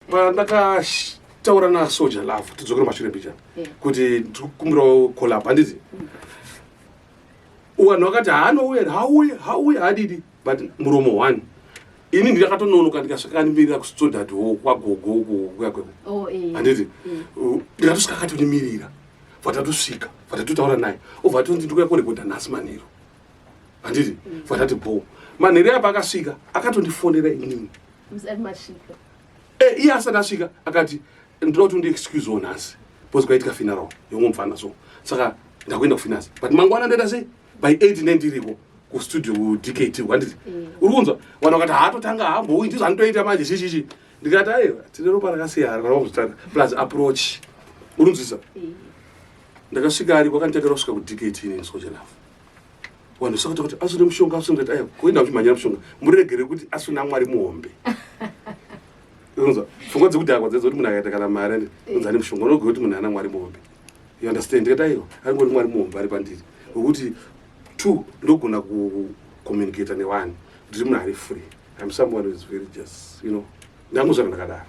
pandakataura nasoja lava tidzokere mashure mbichana kuti ndikukumbirawo collab handizi mm. wanhu wakati haanouya here hauye hauye hadidi but muromo one ini ndakatononoka ndikasvikanimirira kusodati wo kwagogo kuuya kweko oh, eh. handiti mm. ndikatosvikakatonimirira vatatosvika vatatotaura naye ovatondi ndikuya korekodha nhasi maniro handiti vakati bho manheri apa akasvika akatondifonera inini eh, iye asati asvika akati ndinoda kuti undiexcuse wo nhasi bcause kwaitika funeral yomwe mfana so saka ndakuenda kufinance but mangwana ndaita sei by eight ne ndiriko kustudio kudkt kwanditi mm. uri kunzwa vanhu vakati haatotanga hambouyi ndizvo anotoita manje chichichi ndikati aiwa tine ropa rakasiyana kana vakuzvitanga plus approach uri kunzwisa mm. ndakasvika ariko akanditakira kusvika kudkt ineni sojelafo vanhu saka takati asina mushonga asina kuti aya kuenda kuchimhanyira mushonga muregere kuti asina mwari muhombe unzwa pfungwa dzekuti akwa dzedza kuti munhu akaita kana mari ane unza ane mushonga unogona kuti munhu ana mwari muhombe you understand ndikati aiwa aringori mwari muhombe ari pandiri wekuti two ndogona kucommunicata newani ndiri munhu ari free im someone is very just you know ndamuzvana ndakadaro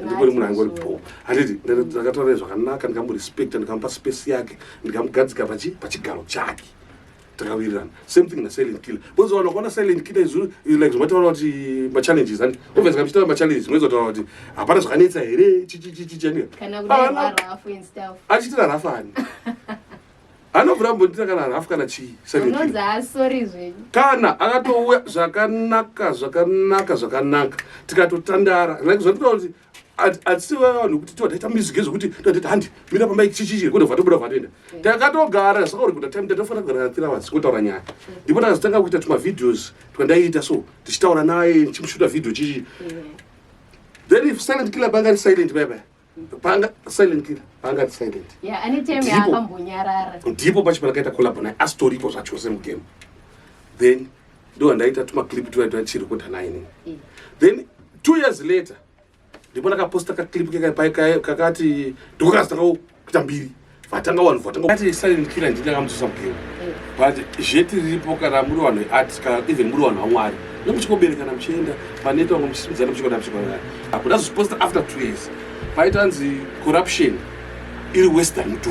ndikuri munhu angori bho handiti ndakataura zvakanaka ndikamurespekta ndikamupa space yake ndikamugadzika pachigaro chake takawirirana same thing nasilent killer because vanhu vakaona silent killer izvo like zvomataura kuti machallenges handi obvious ka muchitaura machallenges moizotaura kuti hapana zvakanetsa here chichichichichaniachitira rafani anovhura mbonditi akarara hafu kana chii kana akatouya zvakanaka zvakanaka zvakanaka tikatotandara zvatinoa kuti atisi vanhu kuti tiwataita mizige zvekuti tatita handi mira pamba ichichichi kuda vatobuda vatenda takatogara saka uri kuda time tatofana kugara three hours kutaura nyaya ndipo takazotanga kuita tumavideos twandaiita so tichitaura naye ndichimushuta video chichi then if silent killer banga risilent bye bye panga silent killer panga silent yeah any time yakambonyarara ndipo pacho pakaita collab naye asitoripo zvacho se mugame then ndo andaita tuma clip tuya tuya chiri kuda naye ne yeah. then two years later ndipo ndakaposta ka clip kaka kakati ndokaka zitaka kuita mbiri vatanga vanhu vatanga ati silent killer ndini akamudzosa mugero but zveti riripo kana muri vanhu vearts kana even muri vanhu vamwari nemuchikoberekana muchienda paneta vamwe muchisimudzana muchikona muchikona hakuda zviposta after two years paitanzi corruption iri western